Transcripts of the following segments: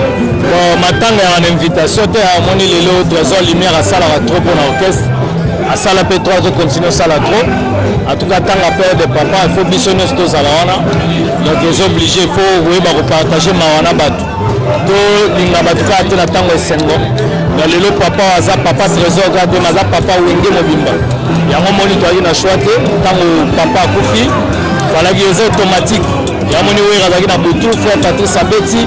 bon matanga ya na invitation te amoni lelo toison lumière asalaka trop mpo na orchestre asala mpe trop azocontinue osala trop atuka atanga pere de papa il faut biso nyonso tozala wana donc eza oblige il faut koyeba kopartage mawa na bato tolinga bato kaka te na ntango esengo na lelo papa aza papa trésor kaka te naza papa wenge mobimba yango moni toyaki na choix te ntango papa akufi falaki eza automatique yamoni wera azalaki na butu frère patrice abeti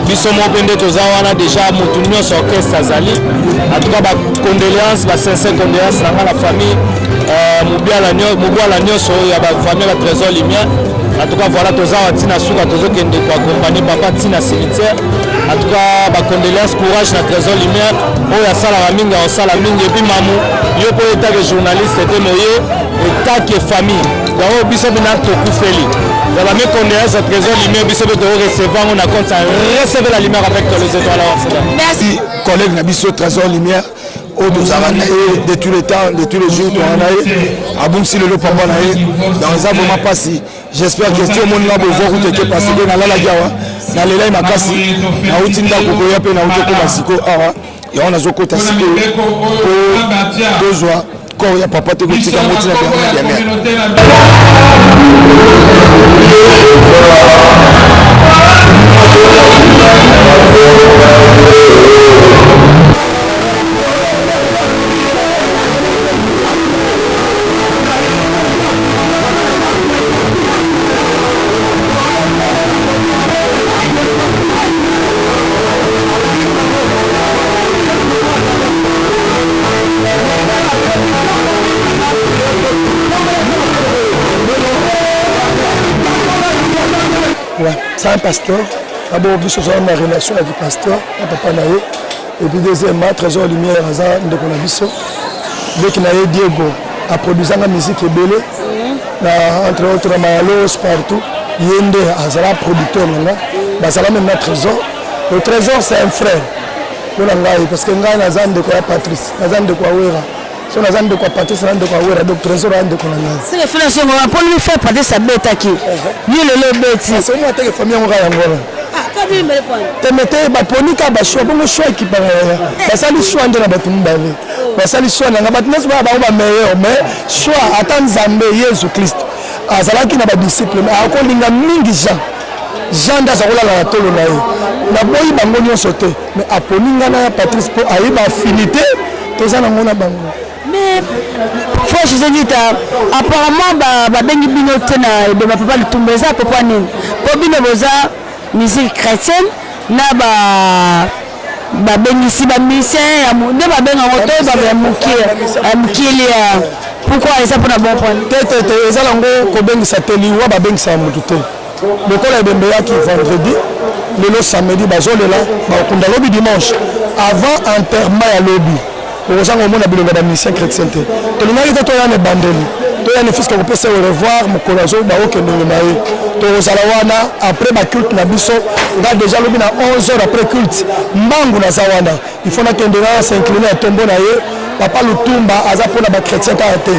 biso moko mpe nde toza wana déjà motu nyonso orchestre azali en tout cas ba condoléance ba sincère condoléance na ngai na famille euh, mobwala nyonso ya bafamille ya trésor lumière en tout cas voilà toza awa ntina suka tozokende koakompagne papa ntina cimetière en tout cas bacondoléance courage na trésor lumière oyo asalaka mingi akosala mingi epuis mamu yo mpo etake journaliste te moye etake famille Yango biso bina tokufeli ya ba mes condoléances à trésor lumière biso pe toko recevoir ngo na compte ça recevez la lumière avec les étoiles en cela merci collègue na biso trésor lumière oyo tozalaka na ye de tous les temps de tous les jours tozalaka na ye abungisi lelo papa na ye donc eza vraiment mpasi j'espère que ti omoni nga bovua kutu eke parce que nalalaki awa nalelai makasi nauti ndako koya mpe nauti okoma siko awa yango nazokota sikoyo tozwa corps ya papa te kotika yango ntina byango ya mea ça un pasteur d'abord biso tozala na relation ya kipasteur na papa na ye epuis deuxièmement trésor lumière aza ndeko na biso leki na ye diego aproduisanga musique ebele na entre autres na mayalos partout ye nde azala producteur na nga bazala meme na trésor Le trésor c'est un frère mpo na ngai parce que ngai naza ndeko ya Patrice naza ndeko ya Wera so naza ndeko ya Patrice na ndeko ya Wera donc trésor ya ndeko na ngai. C'est le frère songo wa poni mi frère Patrice abetaki uh-huh. yo lelo obeti. Parce que moi ateke famille yango kaka yango wana. Ah, temete baponi kaka bashua bongo shua ekipaka yaya eh. basali shua nde na bato mibale oh. basali shua na ngai bato nyonso baya bango bameilleur mais shua ata nzambe yesu kristo azalaki na badisciple akolinga mingi jean Jean nde aza kolala na tolo na ye. Naboyi bango nyonso te, mais aponi ngai na ya Patrice mpo ayeba affinité toza nango na bango. Mais Frère José Vita, apparemment babengi ba bino te na ebemba Papa Lutumba eza pourquoi nini? Mpo bino boza musique chrétienne na ba babengisi ba musicien ya nde babenga yango to babe ya mokie ya mokili ya pourquoi eza mpona bon point te te te eza nango kobengisa te liwa babengisa ya motu te lokola ebembe yaki vendredi lelo samedi bazolela bakokunda lobi dimanche avant enterrement ya lobi okozanga omona bilonga ba mission chrétien te tolingaki te toya na ebandeli toya na fiske kopesa au revoir mokolo azoba okendenge na ye tokozala wana après baculte na biso nga déjà alobi na 11 heures après culte mbangu naza wana il faut nakende na s'incline ya tombo na ye papa lutumba aza mpo na bachrétien kaka te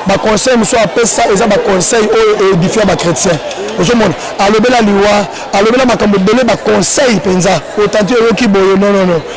baconseil mosusu apesa eza baconseil oyo édifia bachrétien ozomona alobela liwa alobela makambo ebele baconseil mpenza otanti oyoki boye nonono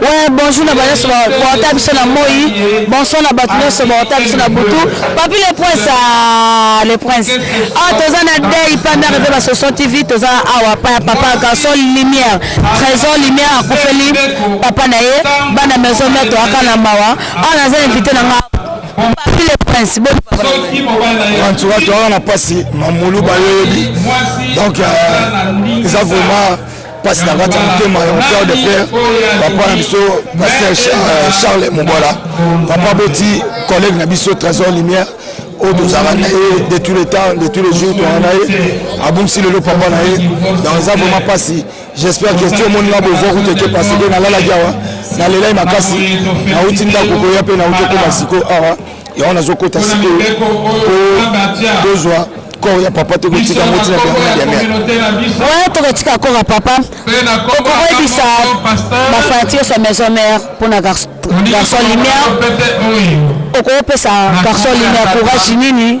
Ouais, bonjour na banyoso baota biso na moi bonsoir na bato nyonso baota biso na butu papi le prince ah, le prince awa ah, toza na dei panda reve basoso tv toza awa pa ya papa garçon lumière trésor lumière akufeli papa na ye bana maison mère toyaka na mawa awa ah, naza invité na nga papi le prince antuka toyaka na mpasi mamulu bayoyebi donc euh, eza vraiment pasi na kati ya motema ya père de père papa na biso pasteur euh, charles mobola papa boti collègue na biso trésor lumière oyo tozalaka na ye de tous les temps de tous les jours tozalaka na ye abungisi lelo papa na ye donc eza vraiment mpasi j'espère que ti omoni nga bovo kuteke parce que nalalaki awa nalelai makasi nauti ndako koya mpe nauti okoma siko awa yango nazokota sikoyo tozwa corps ya papa tokotika yango ntina byaoya tokotika corps ya papa okoyebisa bafanati nyonso ya maison mère mpo na garçon lumière okopesa garçon lumière courage nini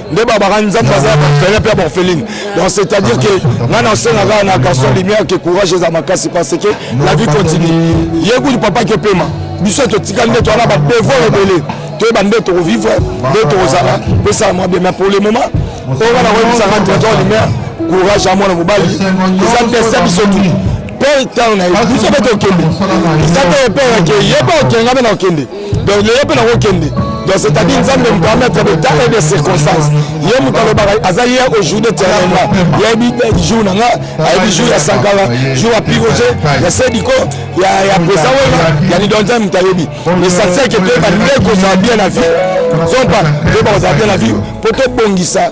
nde babaka nzambe aza bafele mpe baorpheline donc c'est à dire ke ngai nasenga kaka na garçon lumière ke courage eza makasi parce que la vie continue ye kutu papa kepema biso totika nde towana badevoir ebele toyeba nde tokovivre nde tokozala pesala mwa bien mais pour le moment oyo wana koyebisaka directeur lumière courage ya mwana mobali eza ndese biso tu mpe ntango na ye biso mpe tokende eza mpe epe yake ye mpe okengami na okende donc lelo mpe nakokende donc c'est-à-dire nzambe me permettre de temps et de circonstance ye moto alobaka aza ye aujourd'hui éternellement yeyebi jour na nga ayebi jour ya sankala jour ya piroge ya sediko ya pesa wena ya lido nzambe moto ayebi l'essentiel ke toyeba nde kozala bien na vie zompa toyeba kozala bien na vie mpo tobongisa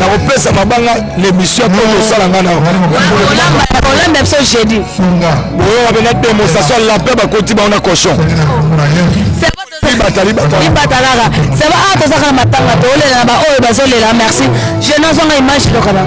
nakopesa mabanga na émission mpo kosala nga naolambe biso jeudi boyoka mpe na demonstration ya lapin bakoti bango na cochon ibatalaka seba a tozaka na matanga toolela na baoyo bazolela merci je nazwanga image lokana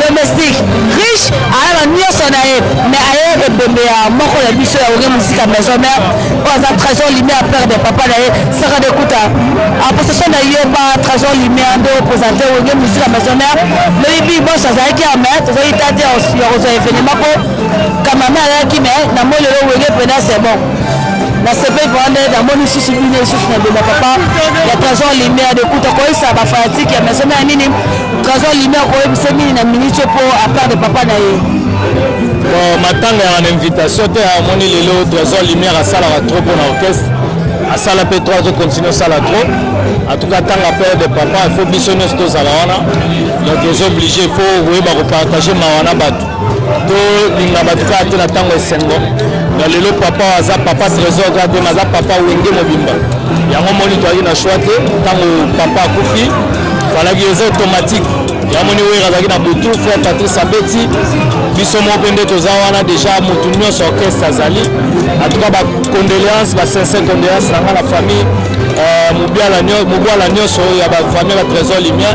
domestique riche aya na nyonso na ye mais aye ebembe ya moko na biso ya oge musika maison mère oyo aza trésor lumière père de papa na ye saka de kuta aposation na yo ba trésor lumière nde opresente oge musika maison mère loyibi bonso azalaki ya mai tozali ta te ya kozwa evenema mpo kamame ayaki mai na moi lelo wenge mpena c'est bon nasepeli vraimen nde namoni lisusu bino lisusu na bima papa ya trésor lumière de kuta koyisa bafanatike ya maison mère nini Trésor Lumière oyebise nini na minute po à part de papa na ye bon matanga ya na invitation te amoni lelo Trésor Lumière asalaka trop mpo na orchestre asala mpe trop azocontinue osala trop en tout cas ntanga père de papa il faut biso nyonso tozala wana donc ozo oblige il faut koyeba kopartage mawa na bato tolinga bato kaka te na ntango esengo na lelo papa aza papa trésor kaka te aza papa wenge mobimba yango moni toyaki na choix te ntango papa akufi falaki eza automatique yamoni wera azalaki na butu frère patrice abeti biso moko mpe nde toza wana déjà motu nyonso orchestre azali en tout cas bacondoléance basincère condoléance na ngai na famille euh, mobwala nyonso ya bafamille ya batrésor limien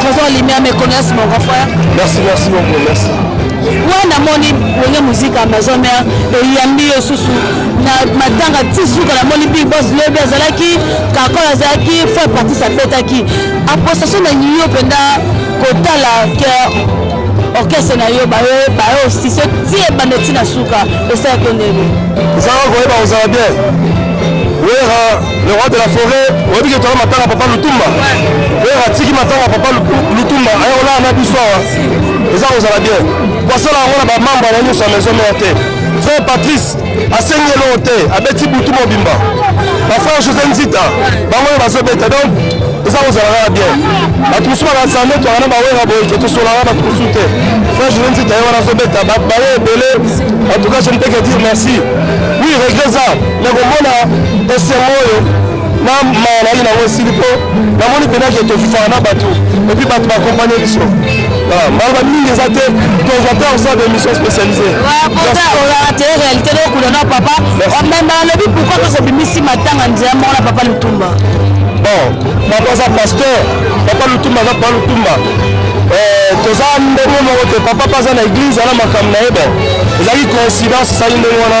Trésor Limia me connaisse mon grand frère. Merci, merci beaucoup, merci. Ouais, na moni wenge musique à maison mère et yambi yo susu na matanga ti suka na moni big boss lobi azalaki kakol azalaki fo parti sapetaki apostation na yo mpenza kotala ke orchestre na yo bayo bayo sise ti ebanda ti na suka esalaki yo ndenge ezalaka koyeba kozala bien wera le roi de la forêt oyebi ke toza matanga papa lutumba oyo atiki matanga papa lutumba aye kolala na biso awa eza kozala bien basala yango na bamembre na nyonso ya maison mare te frère patrice asengi eloko te abeti butu mobimba bafrère josé nzita bango oyo bazobeta donc eza kozala kaka bien bato mosusu bakanisa nde twaka na bawera boye ke tosolaka bato mosusu te frère josé nzita ye wana azobeta baye ebele en tout cas je ne peux que dire merci oui regret eza nakomona esengo oyo na mawa nayaki nango esili mpo namoni mpenza ke tofana na bato epuis bato bakompane biso maloba mingi eza te tozwa te osala bémission spécialisé ozalaka te réalité dokuna na papa omemba nalobi pourkoi tozobimisi matanga nzela moko na papa lutumba bon papa aza pasteur papa lutumba aza papa lutumba eh, toza ndenge moko te papa mpe aza na église ana makambo na ye bon ezalaki coïncidence esali ndenge wana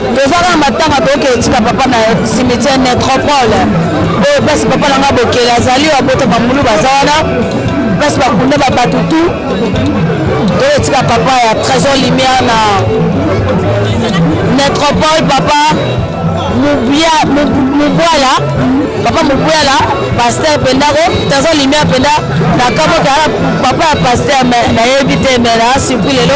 toza kaka matanga toyoka etika papa na cimetière nétropole oyo place papa na ngai bokeli azali oyo abota bambulu baza wana place bakunda babato tu toyo etika papa ya trésor lumière na nétropole papa mubwala papa mubwala paster mpenza ko trésor lumière mpenza nakamokala papa ya paster nayebi te me na surpris lelo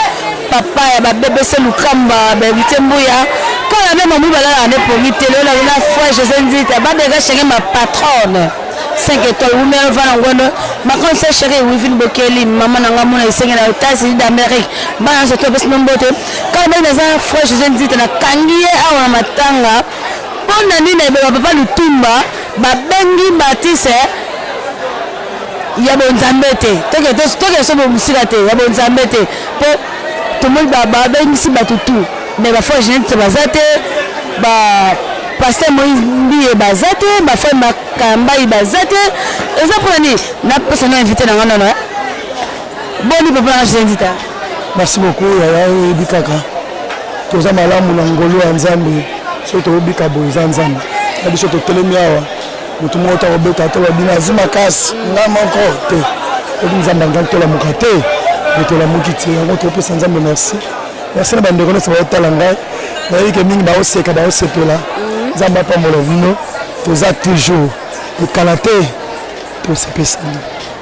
papa ya ba bbc lukamba ba invité mbuya quand la même mbuya la ne promis télé la la foi José Nzita ba de chacun ma patronne 5 étoiles ou même va ngono ma quand c'est chéri Wivine Bokeli maman nanga mona isenga na États-Unis d'Amérique ba na soto bes nombote quand même na za foi José Nzita na kangiye awa matanga pona nini ba papa lutumba babengi batise ya bonzambe te tokende so mosika te ya bonzambe te mpo tomoni babengisi bato tu mais bafoi genete baza te paster moïse mbiye baza te bafai makambai baza te eza mpona nini napesa no invité na nga nono boni papa nanga jendita merci beaucoup yaya oyebi kaka toza malamu na ngolu ya nzambe soki tobika boye eza nzambe na biso totelemi awa motu moko te akobeta tola bino azi makasi nga moko te oki nzambe angai tolamuka te me tolamuki te yango topesa nzambe merci merci na bandeko nyonso baotala ngai nayebi ke mingi baoseka baosepela mhm. nzambe apambola bino toza toujours ekala te tosepesani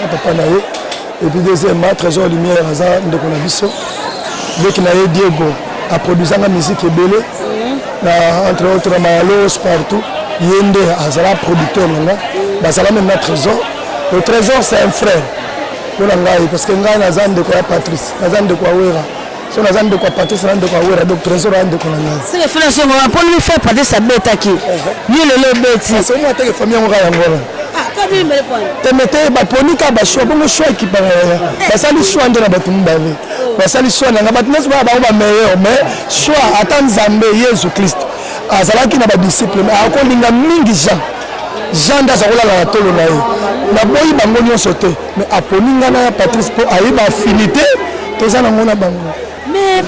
na papa na ye et puis deuxièmement trésor lumière aza ndeko na biso leki na ye diego aproduisanga musique ebele mhm. na entre autres na mayalos partout ye nde azala producteur na nga bazala meme na trésor le trésor c'est un frère mpo na ngai parce que ngai naza ndeko ya patrice naza ndeko ya wera soki naza ndeko ya patrice na ndeko ya wera donc trésor ya ndeko na ngai seke fela songo na mponi mifai patrice abetaki uh-huh. yo lelo obeti ah, somo ateke famille yango kaka yango wana temete baponi kaka bashoi bongo shoi ekipaka yaya eh. basali shoi nde na bato mibale oh. basali shoi na ngai bato nyonso baa bango bameilleur mais shoi ata nzambe yesu kristo azalaki na badisciple mais akolinga mingi jean jean nde aza kolala na tolo na ye naboyi bango nyonso te Mais aponi nga na Patrice po aye ba affinité toza nango na bango. Mais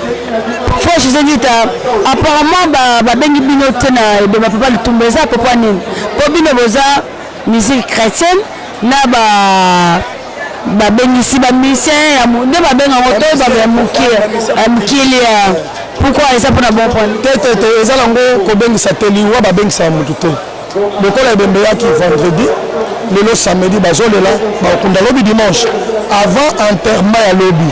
Frosh Zengita apparemment ba babengi bino te na ebeba papa Lutumba eza papa nini? Po bino boza musique chrétienne na ba babengisi bamisien ya nde babenga yango to bato ya mokili ya pourkui eza mpona bon point te te te eza nango kobengisa te liwa babengisa ya motu te lokola ebembe eyaki vendredi lelo samedi bazolela bakokunda lobi dimanche avant enterrement ya lobi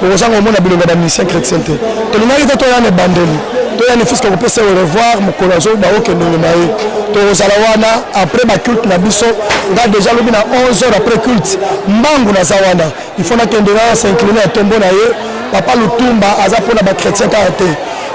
okozanga komona bilongo ya bamisien chrétien te tolingaki te toyana ebandeli toyana fiske kopesa au revoir mokolo azoba okendenge na ye tokozala wana après baculte na biso nga deja lobi na 11 heures après culte mbangu naza wana il faut nakende na s'incline ya tombo na ye papa lutumba aza mpona bachrétien kaka te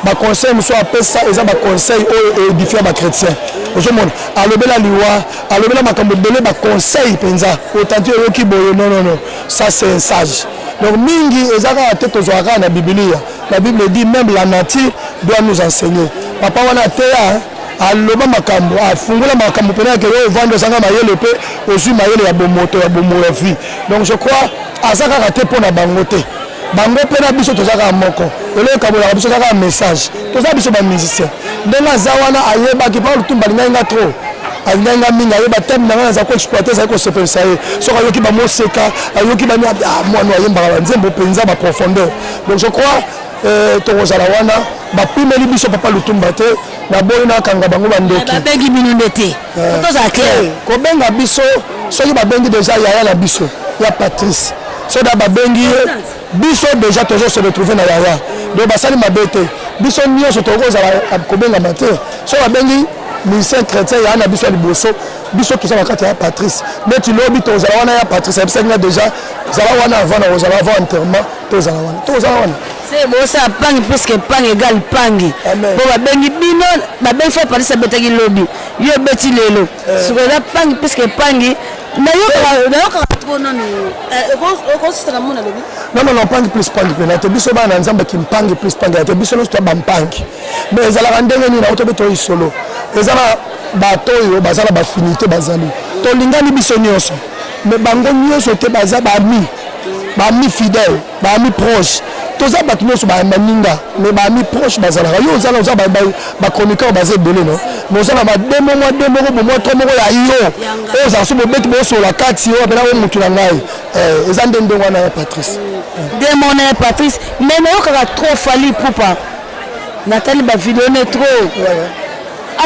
baconseil mosusu apesa eza baconseil oyo eedifia bachrétien ozomona alobela liwa alobela makambo ebele baconseil mpenza otanti oyoki boye nonono ça c'est un sage donc mingi eza kaka te tozwaka kaka na bibilia la bible dit même la nature doit nous enseigner papa wana ateya aloba makambo afungola makambo mpenza yake oyo ovandi ozanga mayele mpe ozwi mayele ya bomoto ya bomoya vie donc je crois aza kaka te mpo na bango te bango mpe na biso toza kaka moko eloko ekabolaka biso kaka message toza biso bamusicien ndenge aza wana ayebaki mpo lutumba alingai nga trop alingai nga mingi ayeba teme na ngai naza koexploite ezali kosepelisa ye soki ayoki bamoseka ayoki bani ah, mwana ayembaka banzembo mpenza baprofondeur donc je crois euh, tokozala wana bapimeli biso papa lutumba te naboyi nakanga bango bandoki babengi bino nde te Eh, tozala clair eh, kobenga biso soki babengi deja yaya na biso ya patrice soda babengi ye biso deja tozo se retrouve na yaya donc basali mabe te biso nyonso tokoki kozala ah, kobengama te so babengi musicien chrétien yaya na biso ya liboso biso toza na kati ya patrice neti lobi tozala wana ya patrice ayebisaki nga deja zala wana avant na kozala avant enterrement tozala wana tozala wana se bosala pangi puisque pangi egal pangi po babengi bino babengi fo palisi abetaki lobi yo obeti lelo eh. siko eza pangi puisque pangi nayokaka tro nanu okosisaka mona lobi nonono pangi plus pangi mpena te biso bana nzambe kimpangi plus pangi ya te biso nyonso tya bampangi me ezalaka ndenge nini yango tobe toyi solo eza na bato oyo baza na bafinité bazali tolingani biso nyonso me bango nyonso te baza bami bami fidèle ba amis proches toza bato nyonso baninga mais ba amis proches bazalaka yo ozala oza ba chroniqueur baza ebele no mais oza na bade mo mwa de moko bomwa tro moko ya yo oyo ozala so bobeti bosola kati yo apena o motu na ngai eh, eza nde ndenge wana ya patrice demo na ya patrice mais nayokaka trop fali pupa natali bavideo ne trop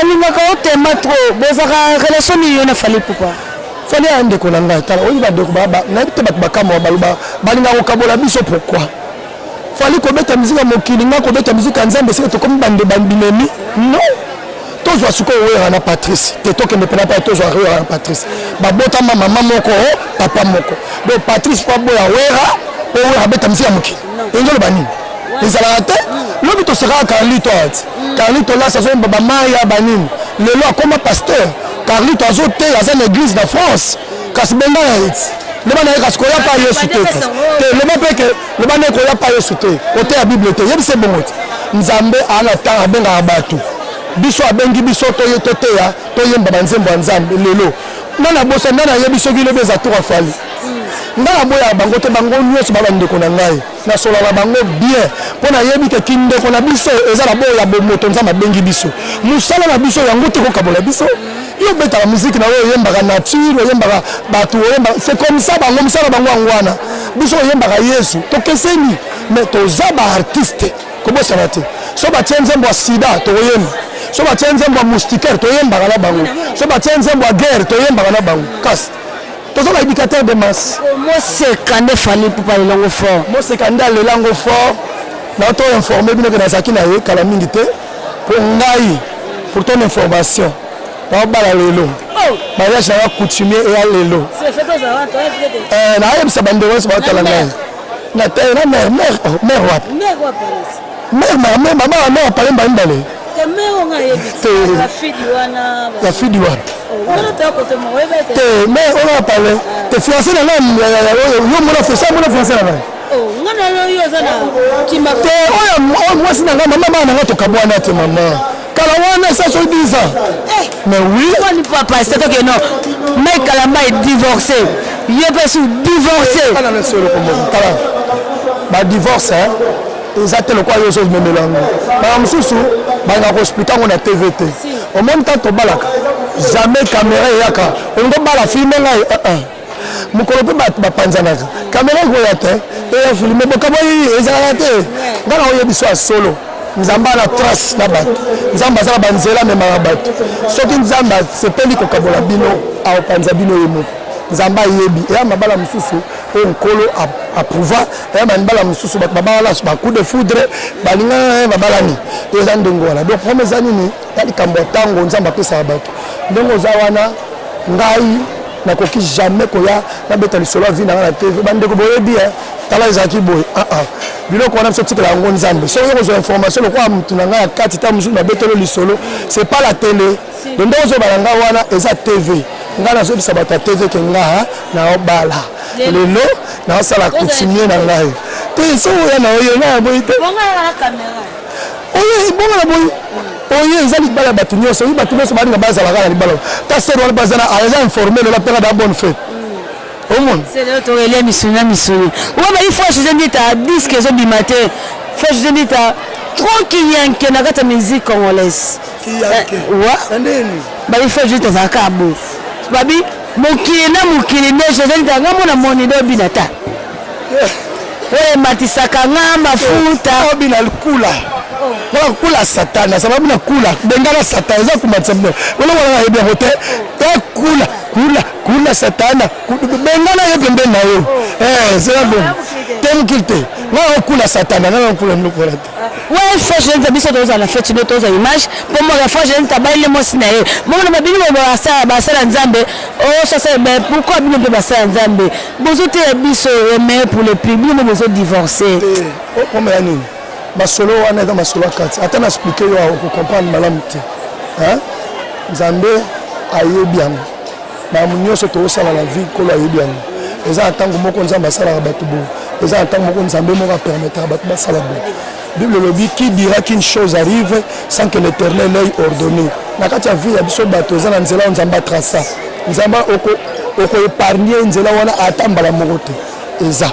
Alingaka yo tema trop bozaka relation nini yo na Fally Ipupa? Fally ya ndeko na ngai tala oyi bandeko nayebi te bato bakamwa baloba balinga kokabola biso pourquoi Fally kobeta miziki ya mokili ngai kobeta miziki ya Nzambe esika tokomi bande bandimemi non tozwa sikoyo wera na patrice te tokende mpena mpai tozwa wera na patrice babotama mama moko papa moko donc patrice po aboya wera po wera abeta miziki ya mokili olingi oloba nini ezalaka te lobi tosakaka carlito ati carlito lasi azoyemba bamaya banini lelo akoma pasteur carlito azoteya aza na église na france kasi benga ya eti loba na ye kasi koya pa yesu te te loba mpe ke loba nde koya pa yesu te oteya bible te yebisa ebongo te nzambe aa na ntango abengaka bato biso abengi biso toteya toyemba banzembo ya nzambe lelo nga na bosa nga nayebi soki lobi eza tour afali nga naboyaka bango te bango nyonso ba bandeko na ngai nasolaka bango bien mpo nayebi ke kindeko na biso eza na boyo ya bomoto nzambe abengi biso mosala na biso yango te kokabola biso yo obetaka miziki na oyo oyembaka nature oyembaka bato oyembaka c'est comme ça bango mosala bango yango wana biso oyembaka yesu tokeseni mais toza baartiste kobosana te so batie nzembo ya sida tokoyemba so batie nzembo ya moustiquaire toyembaka na bango so batie nzembo ya guerre toyembaka na bango kasi toza na éducateur de masse moseka nde fali pupa lelango fort moseka nde alelango fort na to informe bino ke nazalaki na ye kala mingi te mpo ngai pour ton information naobala lelo oh! mariage nanga coutumier eya lelo eh, nayebisa bandeko nyonso baotala ngai na taye na mère mère oh, mère wapi mère wapi mère mère mère mama wa mère pale mbali mbali te mère nga yebi te la fille du wana la fille du wana oh, wana ta ko te mo webe te te mère ona pale te fiancé na nani ya ya yo yo mona fiancé mona fiancé na nani oh nga na yo yo za na kimba te oya mwasi na nga mama na nga tokabwana te mama kala wana esa soki 10 ans eh, mais oui kwani papa c'est toi que non mike kalamba est divorcé ye pe su divorcé eh, kala na solo ko moko kala ba divorce hein eza te lokola yo ozomemela yango bana mosusu banga koexplike yango na tv te omoni ntango tobalaka jamais kamera eyaka olingi obala filme ngai eh, mokolo mpe bato bapanzanaka kamera ekoya te eya filme bokamwaki ezalaka te nga na oyebi biso ya solo nzambe ana trace na bato nzambe aza na banzela amemaka bato soki nzambe asepeli kokabola bino akopanza bino ye moko nzambe ayebi eya mabala mosusu oyo nkolo aprouva eya mabala mosusu bato babalana ba coup de foudre balingana babalani eza ndenge wana donc problème eza nini ya likambo ya ntango nzambe apesaka bato ndenge oza wana ngai nakoki jamais koya nabeta lisolo ya vie na nga na tv bandeko boyebi eh, tala ezalaki boye ah, ah. biloko wana biso tikela yango nzambe soki oza kozwa information lokola motu na ngai ya kati ta mosusu nabetelo lisolo c'est pas la tele do nde ozoba na ngai wana eza tv ngai nazobisa bato ya tv ke ngaa naobala lelo naosala coutumier na ngai te so oya na oyo nayaboyi te oyo ebonga na boye oyo eza libala ya bato nyonso oyo bato nyonso balinga bazalaka na libala kasi wana bazala aza informel ola mpeka da bonne fete omoni torelia misuni na misuni oyo bayi fo jose ndita diske ezobima te fo jose ndita trop kiyanke na kati ya musique congolaise eh, bayi fo jose tazalaka bo babi mokili na mokili nde jose ndita ngambo na moni nde obina ta oyo ematisaka nga mafuta eh, bina kula mpona kula satana eza babina kula bengana satana eza komatisa bino olowalaka yebi yango te ekula kula kula satana bengana ye pembeni na yo eh, zela bongo te mokili te nga okula satana nga okula biloko wana te ouais fois jeune ta biso toza na fete no toza image po mo la fois jeune ta baile mo sina ye mo na babini mo ba sala ba sala nzambe o oh, sasa ben pourquoi bino pe ba sala nzambe Bozo teya biso remède pour le prix bino bozo divorcer. Eh, okomela oh, nini? Masolo wana eza masolo ya kati. Ata na expliquer yo oko comprendre malamu te. Hein? Nzambe ayebi yango. Makambo nyonso tokosala na vie nkolo ayebi yango. Eza na ntango moko Nzambe asalaka bato boye. Eza na ntango moko Nzambe moko apermetaka bato basala boye. Bible elobi qui dira qu'une chose arrive sans que l'Éternel ait ordonné. Na kati ya vie ya biso bato eza na nzela oyo Nzambe atrasa. Nzambe okoepargne oko nzela wana ata mbala moko te eza.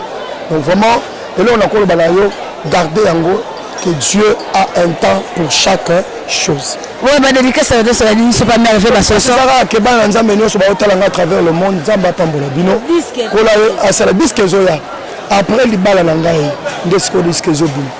Donc vraiment eloko nakoloba na yo garde yango que Dieu a un temps pour chaque chose. Ouais, ba dédicace à tous, ni c'est pas merveilleux ba soso. Sara ke ba nzambe nyoso ba otala nga à travers le monde, nzambe apambola bino. Kola asala disque zoya. Après libala na ngai nde sikoyo diske ezobima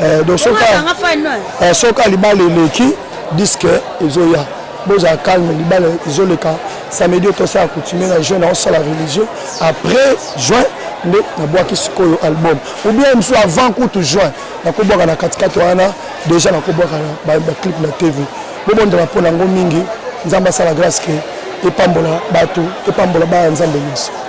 eh, donc soki eh, libala eleki diske ezoya bozala calme libala ezoleka samedi oyo tosala coutumier na juin naosala religieux après juin nde nabwaki sikoyo album ou bien mosusu avant kutu juin nakobwaka na katikati wana déjà nakobwaka baclip na tv bobondela mpo nango mingi nzambe asala grâce ke epambola bato epambola baya nzambe nyonso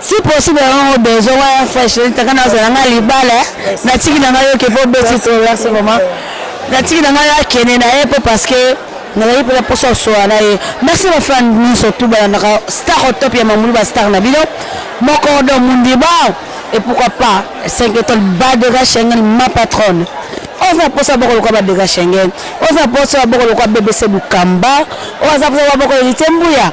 si possible yango bezo wana fresh taka nazala nga libala eh. natiki na ngai yoke mpo beti to merci vraiment natiki na ngai akende na ye mpo parce que nazali mpe na mposa osola na ye merci bafan nyonso tu balandaka star au top ya mamulu bastar na bino moko do mundiba et pourquoi pas 5 étoiles badega schengen ma patronne oza mposa boko lokola badega schengen oza mposa boko lokola bbc bukamba oyo aza mposa boko elite mbuya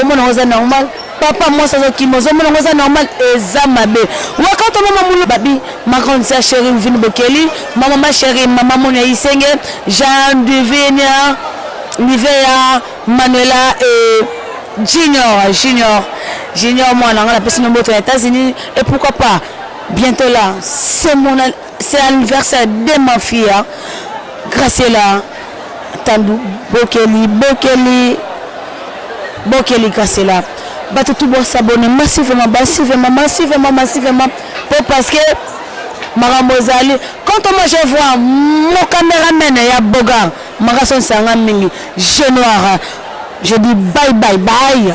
omona oza normal papa mwasi azokima ozomona yango eza normal eza mabe wakata mama mulu babi ma grande sœur chérie mvini bokeli ma mama chérie mama moni ya isenge jean divinia nivea manuela e junior junior junior mwana nga napesi no mboto ya états-unis et pourquoi pas bientôt là c'est mon C'est anniversaire de ma fille Graciela Tandu Bokeli Bokeli Bokeli Graciela bato tout bo s'abonner massivement massivement massivement massivement po parce que makambo ezali quand moi je vois mon cameraman ya boga makaso nsanga mingi je noir je dis bye bye bye